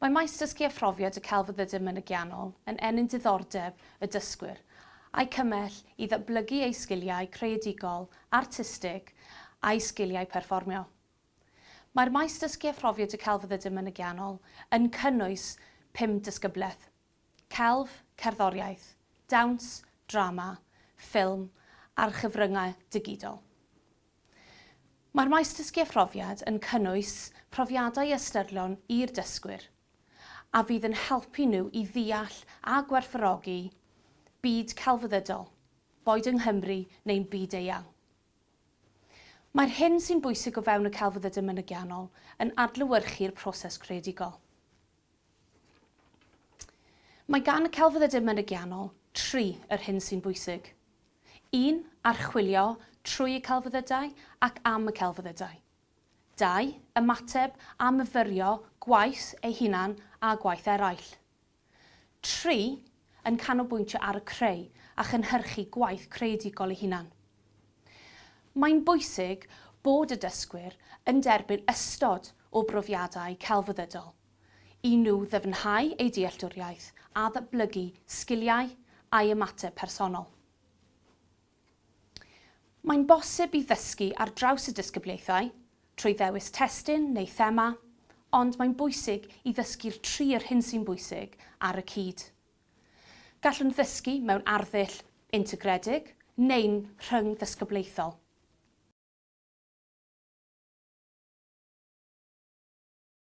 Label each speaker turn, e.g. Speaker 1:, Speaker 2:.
Speaker 1: Mae maes dysgu a phrofiad y celfyddydau mynygiannol yn ennyn diddordeb y dysgwyr, a'u cymell i ddatblygu eu sgiliau creadigol, artistig a'u sgiliau perfformio. Mae'r maes dysgu a phrofiad y celfyddydau mynygiannol yn cynnwys pum disgyblaeth, Celf, cerddoriaeth, dawns, drama, ffilm a'r chyfryngau digidol. Mae'r maes dysgu a phrofiad yn cynnwys profiadau ystyrlon i'r dysgwyr a fydd yn helpu nhw i ddeall a gwerthfawrogi byd celfyddydol, boed yng Nghymru neu'n byd eang. Mae'r hyn sy'n bwysig o fewn y celfyddydau mynygiannol yn adlewyrchu'r proses creadigol. Mae gan y celfyddydau mynegiannol tri yr hyn sy'n bwysig. Un, archwilio trwy y celfyddydau ac am y celfyddydau. Dau, ymateb a myfyrio gwaith ei hunan a gwaith eraill. Tri, yn canolbwyntio ar y creu a chynhyrchu gwaith creadigol ei hunan. Mae'n bwysig bod y dysgwyr yn derbyn ystod o brofiadau celfyddydol i nhw ddyfnhau eu dealltwriaeth a datblygu sgiliau a'u ymateb personol. Mae'n bosib i ddysgu ar draws y disgyblaethau, trwy ddewis testun neu thema, ond mae'n bwysig i ddysgu'r tri yr hyn sy'n bwysig ar y cyd. Gallwn ddysgu mewn arddull integredig neu'n rhyngddisgyblaethol.